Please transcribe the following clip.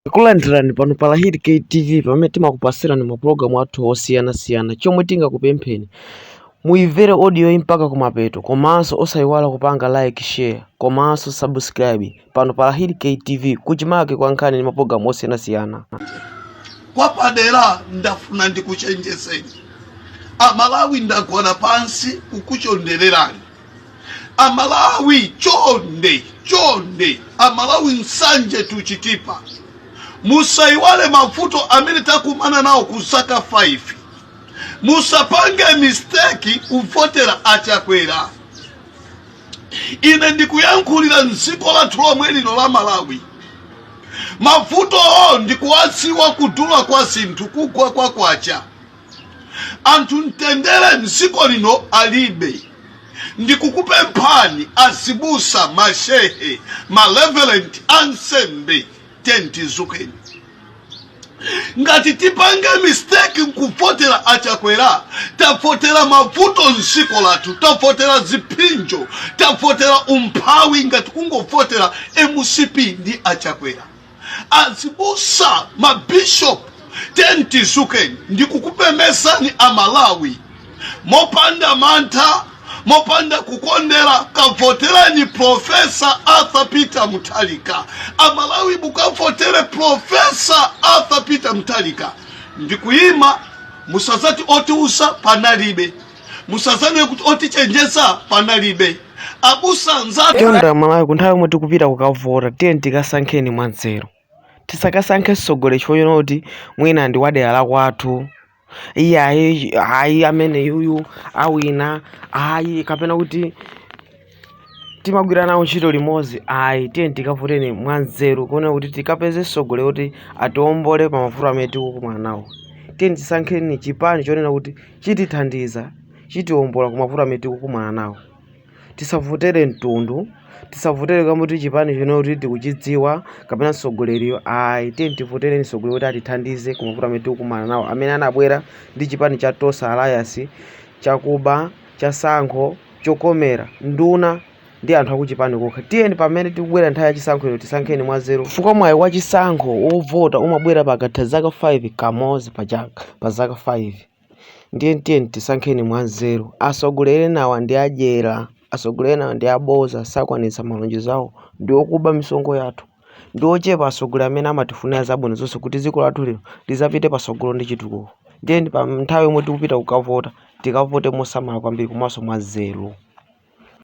Tikulandirani pano pa Lahiri KTV pamene timakupasirani mapulogalamu athu osiyanasiyana. Chomwe tingakupempheni muimvere audio yi mpaka kumapeto komanso osayiwala kupanga like, share komanso subscribe pano pa Lahiri KTV kuchimake kwa nkhani ndi mapulogalamu osiyanasiyana. kwapadera ndafuna ndikuchenjezeni amalawi ndagona pansi kukuchondererani amalawi chonde chonde amalawi musanjetu chitipa musaiwale mavuto amene takumana nawo ku zaka 5 musapange misteki kuvotera achakwera ine ndikuyankhulira mdziko lathu lomwe lino la malawi mavutowo ndikuwadziwa kudula kwa zinthu kugwa kwa kwacha anthu mtendere mdziko lino alibe ndikukupemphani azibusa mashehe mareverend ansembe tentizukeni ngati tipange mistake nkuvotera achakwera tavotera mavuto mdziko lathu tavotera zipsinjo tavotera umphawi ngati kungovotera mcp ndi achakwera azibusa mabishop tentizukeni ndikukumemezani amalawi mopanda mantha mopanda kukondera kavotereni profesa arthur peter mutharika amalawi mukavotere profesa arthur peter mutharika ndikuyima musazati otiuza panalibe musazanene kuti otichenjeza panalibe akulu anzathu chonde amalawi kunthawi yomwe tikupita kukavota tiyeni tikasankheni mwanzeru tisakasankhe mtsogoleri chifukwa chonena kuti mwina ndi wadera la kwathu iye ayi ayi amene yuyu awina ayi kapena kuti timagwira nawo ntchito limodzi ayi tiyeni tikavoteni mwanzeru kuona kuti tikapeze mtsogoleri woti atiombole pa mavuto amene tikukumana nawo tiyeni tisankheni chipani chonena kuti chitithandiza chitiombola ku mavuto amene tikukumana nawo tisavotere mtundu tisavotere kamba koti chipani chonena kuti tikuchidziwa kapena mtsogoleriyo ayi tiyeni tivotereni mtsogoleri woti atithandize ku mavuto amene tikukumana nawo amene anabwera ndi chipani cha tonse alliance chakuba chatsankho chokomera nduna ndi anthu akuchipani kokha. Tiyeni pamene tikubwera nthawi ya chisankho ino tisankheni mwanzeru chifukwa mwayi wa chisankho wovota umabwera pakatha zaka 5 kamodzi pa chaka pa zaka 5 ndiye tiyeni tisankheni mwanzeru. Asogoleli enawa ndi adyera. Asogoleli enawa ndi aboza sakwanitsa malonjezo awo ndiokuba misonkho yathu. ndi ochepa atsogoleri amene amatifunira zabwino zonse kuti dziko lathu lino lidzapite patsogolo ndi chitukuko tiyeni pa nthawi yomwe tikupita kukavota tikavote mosamala kwambiri komanso mwanzeru